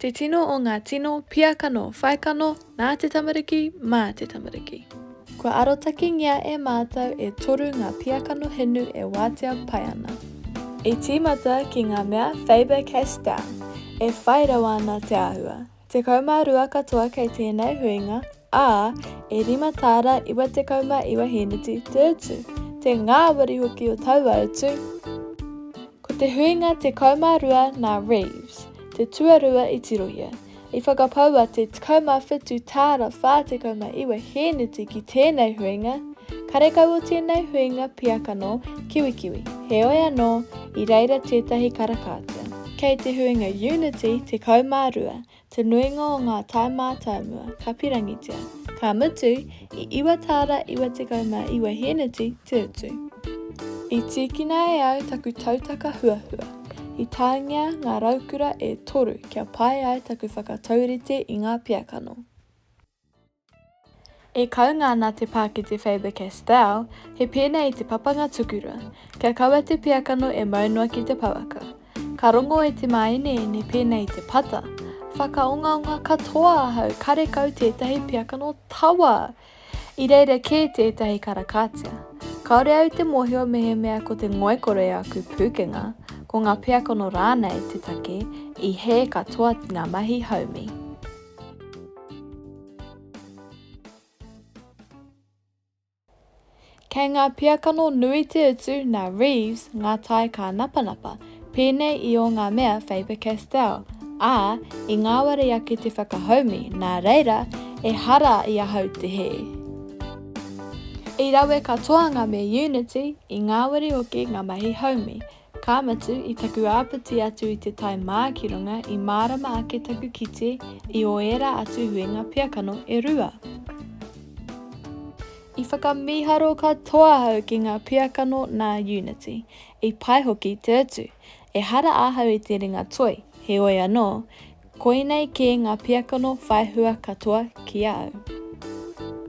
Te tino o ngā tino, pia kano, whai kano, nā te tamariki, mā te tamariki. Kua arotakengia e mātou e toru ngā pia kano hinu e wātea pai ana. I tīmata ki ngā mea Faber-Castell, e whai rawa ana te āhua. Tekau mā rua katoa kei tēnei huinga. ā, e rima tāra iwa tekau mā iwa hēneti te utu, te ngāwari hoki o taua utu. Ko te huinga tekau mā rua nā Reeves, te tuarua i tirohia, i whakapaua te tekau mā whitu tāra whā tekau mā iwa hēneti ki tēnei huinga, karekau o tēnei huinga pia kano kiwikiwi, heoi anō, i reira tētahi karakātea. Kei te huinga Unity tekau mā rua, Te nuinga o ngā tae mātāmua, ka pirangitia. Ka mutu, i iwa tāra iwa tekau mā iwa hēneti te utu. I tīkina e au taku tautaka huahua. I tāngia ngā raukura e toru kia pai ai taku whakataurite i ngā piakano. E kaunga ana te pā ki te Faber-Castell, he pēnei te papanga tukura, kia kaua te pīakano e mau noa ki te pouaka. Ka rongo e te māeneene pēnei te pata, Whakaongaonga katoa ahau karekau tētahi pīakano tawa! I reira kē tētahi karakātia. Kāore au te mōhio mehemea ko te ngoikore aku pūkenga, ko ngā pīakano rānei te take i hē katoa ngā mahi haumi. Kei ngā piakano nui te utu nā Reeves ngā tae kānapanapa, pēnei i ō ngā mea Faber-Castell, ā, i ngāwari ake te whakahaumi, nā reira, ehara i ahau te hē. I rawe katoa ngā mea Unity, i ngāwari hoki ngā mahi haumi, Ka mutu, i taku āpiti atu i te tae mā ki runga i mārama ake taku kite i ō ērā atu huinga pia kano e rua. I whakamīharo katoa ahau ki ngā pia kano nā Unity, i pai hoki te utu. Ehara ahau i te ringa toi, heoi anō, koinei kē ngā pia kano whai hua katoa ki a au.